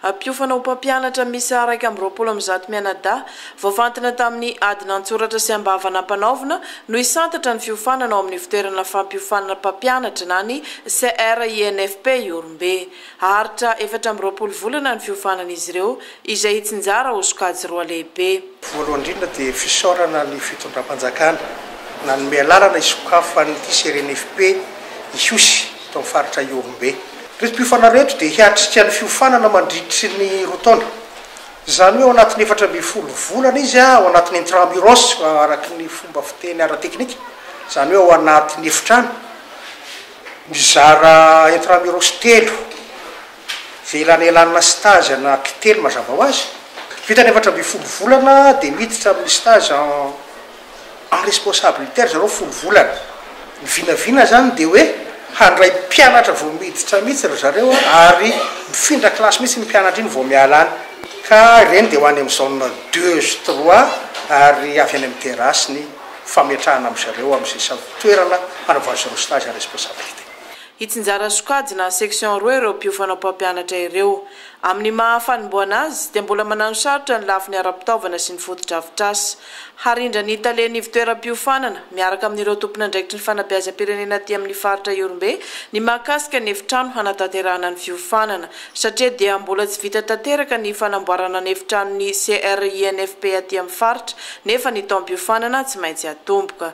Hampiofana ho mpampianatra miisa iraika amby roapolo amin'ny zato mianadahy, voafantina tamin'ny adina an-tsoratra sy am-bava nampanaovina, no hisantatra ny fiofanana ao amin'ny Fitoerana Fampiofanana Mpampianatra na ny CRINFP Ihorombe. Haharitra efatra amby roapolo volana ny fiofanan'izy ireo, izay hitsinjara ho sokajy roa lehibe. Voalohany indrindra dia fisaorana ny fitondram-panjakana nanome alalana hisokafan'ity CRINFP hihosy eto amin'ny faritra Ihorombe. Retim-piofana reto dia hiatrika ny fiofanana mandritry ny roa taona. Izany hoe ao anatin'ny efatra ambin'ny folo volana izy ao anatin'ny intramuros araka ny fomba fiteny ara-teknika, izany hoe ao anatin'ny efitrano mizara intramuros telo velanelanina stage anankitelo mazava ho azy. Vita ny efatra ambin'ny folo volana dia miditra amin'ny stage en. en responsabilité ry zareo folo volana ny vinavina zany de hoe handray mpianatra vao miditra mihitsy ry zareo ary mifindra classe mihitsy ny mpianatra iny vao miala any ka ireny de ho any amin'ny zone deux sy trois ary avy any amin'ny terrasse ny fametrahana am zareo am ze samy toerana hanaovany zareo stage en responsabilité. Hitsinjara sokajina en section roa ireo mpiofana mpampianatra ireo. Amin'ny maha fanombohana azy dia mbola mananosarotra ny lafiny ara-pitaovana sy ny fotodrafitrasa. Harindra ny Talen'ny Ivontoeram-piofanana miaraka amin'ireo tompon'andraikitry ny fanabeazam-pirenena aty amin'ny faritra Ihorombe ny mahakasika ny efitrano hanatanterahana ny fiofanana satria dia mbola tsy vita tanteraka ny fanamboarana ny efitranon'ny CRINFP aty amin'ny faritra nefa ny taom-piofanana tsy maintsy atomboka